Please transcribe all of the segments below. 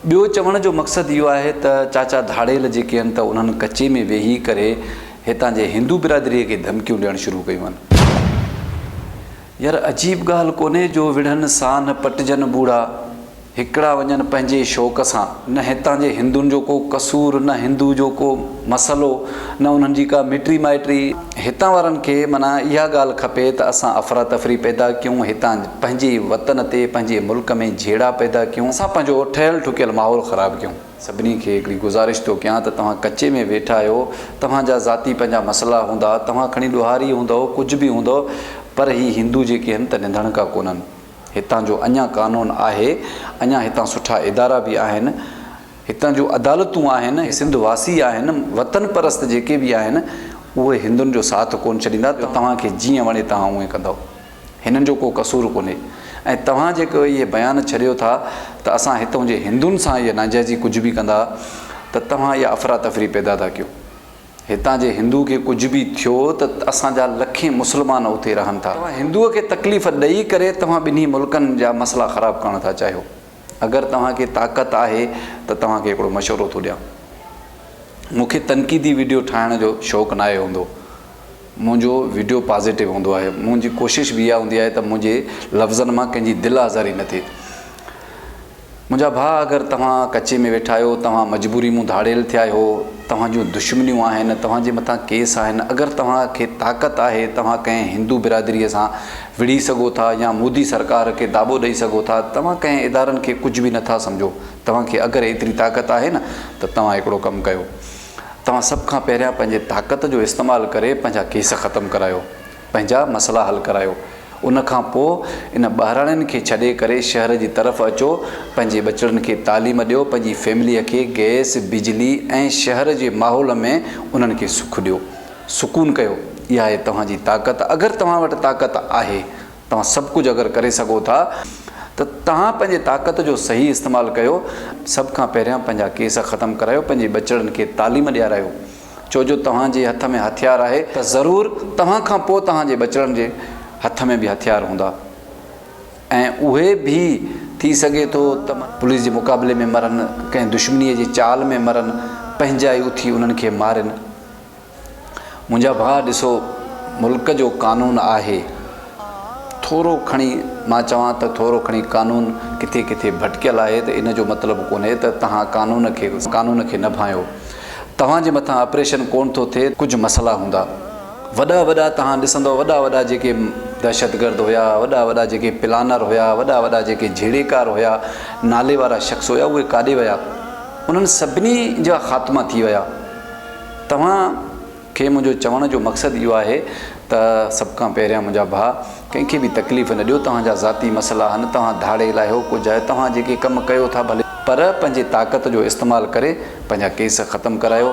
ٻيو چوڻ جو مقصد اهو آهي ته چاچا ڌاڙيل جيڪي هن ته انهن ڪچي ۾ ويهي ڪري هتان جي هندو برادري کي ڌمڪيون ڏيڻ شروع ڪيون هن. يار عجيب ڳالهه ڪونهي جو وڙهن سانهه پٽجن ٻوڙا هڪڙا وڃن پنهنجي شوق سان نه هتان جي هندن جو ڪو قصور نه هندو جو ڪو مسئلو نه انهن جي ڪا مٽي مائٽي. هتان وارن کي معنيٰ اها ڳالهه کپي ته اسان افراتفري پيدا ڪيون، هتان پنهنجي وطن تي پنهنجي ملڪ ۾ جهيڙا پيدا ڪيون، اسان پنهنجو ٺهيل ٺڪيل ماحول خراب ڪيون. سڀني کي هڪڙي گذارش ٿو ڪيان ته توهان ڪچي ۾ ويٺا آهيو، توهان جا ذاتي پنهنجا مسئلا هوندا، توهان کڻي ڏوهاري هوندؤ، ڪجهه به هوندؤ، پر هي هندو جيڪي هن ته ننڌڻڪا ڪونهن. هتان جو اڃا قانون آهي، اڃا هتان سٺا ادارا به آهن، هتان جون عدالتون آهن، هي سنڌ واسي آهن، وطن پرست جيڪي به آهن، اهي هندن جو ساٿ ڪونه ڇڏيندا ته توهان کي جيئن وڻي توهان اونئين ڪندؤ. هنن جو ڪو قصور ڪونهي ۽ توهان جيڪو اهي بيان ڇڏيو ٿا ته اسان هتون جي هندن سان اهي ناجائزي ڪجهه به ڪندا ته توهان اها افراتفري پيدا ٿا ڪيو. هتان جي هندو کي ڪجهه به ٿيو ته اسان جا لکين مسلمان اتي رهن ٿا. توهان هندوء کي تڪليف ڏئي ڪري توهان ٻنهي ملڪن جا مسئلا خراب ڪرڻ ٿا چاهيو. اگر توهان کي طاقت آهي ته توهان کي هڪڙو مشورو ٿو ڏيان. مون کي تنقيدي وڊيو ٺاهڻ جو شوق ناهي هوندو. منهنجو وڊيو پازيٽو هوندو آهي. منهنجي ڪوشش به اها هوندي آهي ته منهنجي لفظن مان ڪنهن جي دل آزاري نه ٿئي. منهنجا ڀاء اگر توهان ڪچي ۾ ويٺا آهيو، توهان مجبوري مون ڌاڙيل ٿيا آهيو، توهان جون دشمنيون آهن، توهان جي مٿان ڪيس آهن، اگر توهان کي طاقت آهي توهان ڪنهن هندو برادري سان وڙهي سگهو ٿا يا مودي سرڪار کي داٻو ڏئي سگهو ٿا، توهان ڪنهن ادارن کي ڪجهه به نٿا سمجهو، توهان کي اگر ايتري طاقت آهي نه ته توهان هڪڙو ڪم ڪيو، توهان سڀ کان پهريان پنهنجي طاقت جو استعمال ڪري پنهنجا ڪيس ختم ڪرايو، پنهنجا مسئلا حل ڪرايو، ان کان پوء ان ٻهراڙين کي ڇڏي ڪري شهر جي طرف اچو، پنهنجي ٻچڙن کي تعليم ڏيو، پنهنجي فيمليء کي گئس، بجلي ۽ شهر جي ماحول ۾ انهن کي سک ڏيو. سڪون ڪيو، اها آهي توهان جي طاقت، اگر توهان وٽ طاقت آهي، توهان سڀ ڪجهه اگر ڪري سگهو ٿا ته توهان پنهنجي طاقت جو صحيح استعمال ڪيو، سڀ کان پهريان پنهنجا ڪيس ختم ڪرايو، پنهنجي ٻچڙن کي تعليم ڏيارايو، ڇو جو توهان جي هٿ ۾ هٿيار آهي ته ضرور توهان کان پوء توهان جي ٻچڙن جي هٿ ۾ به هٿيار هوندا ۽ اهي به ٿي سگهي ٿو ته پوليس جي مقابلي ۾ مرن، ڪنهن دشمنيء جي چال ۾ مرن، پنهنجا ئي اٿي انهن کي مارين. منهنجا ڀاء ڏسو ملڪ جو قانون آهي ٿورو کڻي مان چوان ته ٿورو کڻي قانون ڪٿي ڪٿي ڀٽڪيل آهي ته ان جو مطلب ڪونهي ته توهان قانون کي قانون کي نه ڀانئيو توهان جي مٿان آپريشن ڪونه ٿو ٿئي ڪجهه مسئلا هوندا وڏا وڏا توهان ڏسندؤ وڏا وڏا جيڪي دهشتگرد هيا وڏا وڏا جيڪي پلانر هيا وڏا وڏا جيڪي جهيڙيڪار هيا ناليوارا شخص هيا اهي ڪاڏي ويا انهن سڀني جا خاتما ٿي ويا. توهان کي منهنجو چوڻ جو مقصد اهو آهي ته سڀ کان پهريان منهنجا ڀاء ڪنهن کي به تڪليف نه ڏيو توهان جا ذاتي مسئلا آهن توهان ڌاڙي الاهيو ڪجهه آهي توهان جيڪي ڪم ڪيو ٿا ڀلي پر پنهنجي طاقت جو استعمال ڪري پنهنجا ڪيس ختم ڪرايو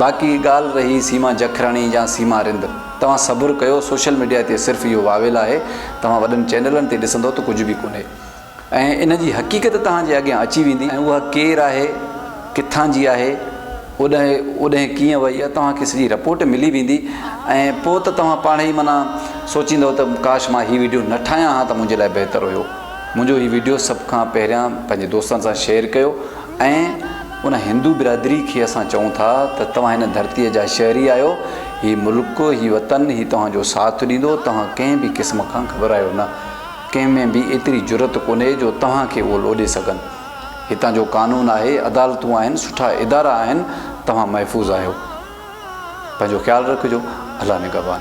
باقي ڳالهه رهي سيما جکراڻي يا سيما رند توهان صبر ڪيو سوشل ميڊيا تي صرف اهو واويل آهي توهان وڏن چينلن تي ڏسندو ته ڪجهه به ڪونهي ۽ ان جي حقيقت توهان جي اڳيان اچي ويندي ۽ اها ڪير آهي، ڪٿان جي آهي، اوڏهين ڪيئن وئي اها توهان کي سڄي رپورٽ ملي ويندي ۽ پوء ته توهان پاڻهي ئي معنيٰ سوچيندؤ ته ڪاش مان هي وڊيو نه ٺاهيان ها ته منهنجي لاء بهتر هيو. منهنجو هي وڊيو سڀ کان پهريان پنهنجي دوستن سان شيئر ڪيو ۽ ان هندو برادري کي اسان چئون ٿا ته توهان هن ڌرتي جا شهري آهيو، هي ملڪ، هي وطن، هي توهان جو ساٿ ڏيندو، توهان ڪنهن به قسم کان گهٻرايو نه. ڪنهن ۾ به ايتري جرئت ڪونهي جو توهان کي اهو لوڏي سگهن. هتان جو قانون آهي، عدالتون آهن، سٺا ادارا آهن، توهان محفوظ آهيو. پنهنجو خيال رکجو. الله نگهبان.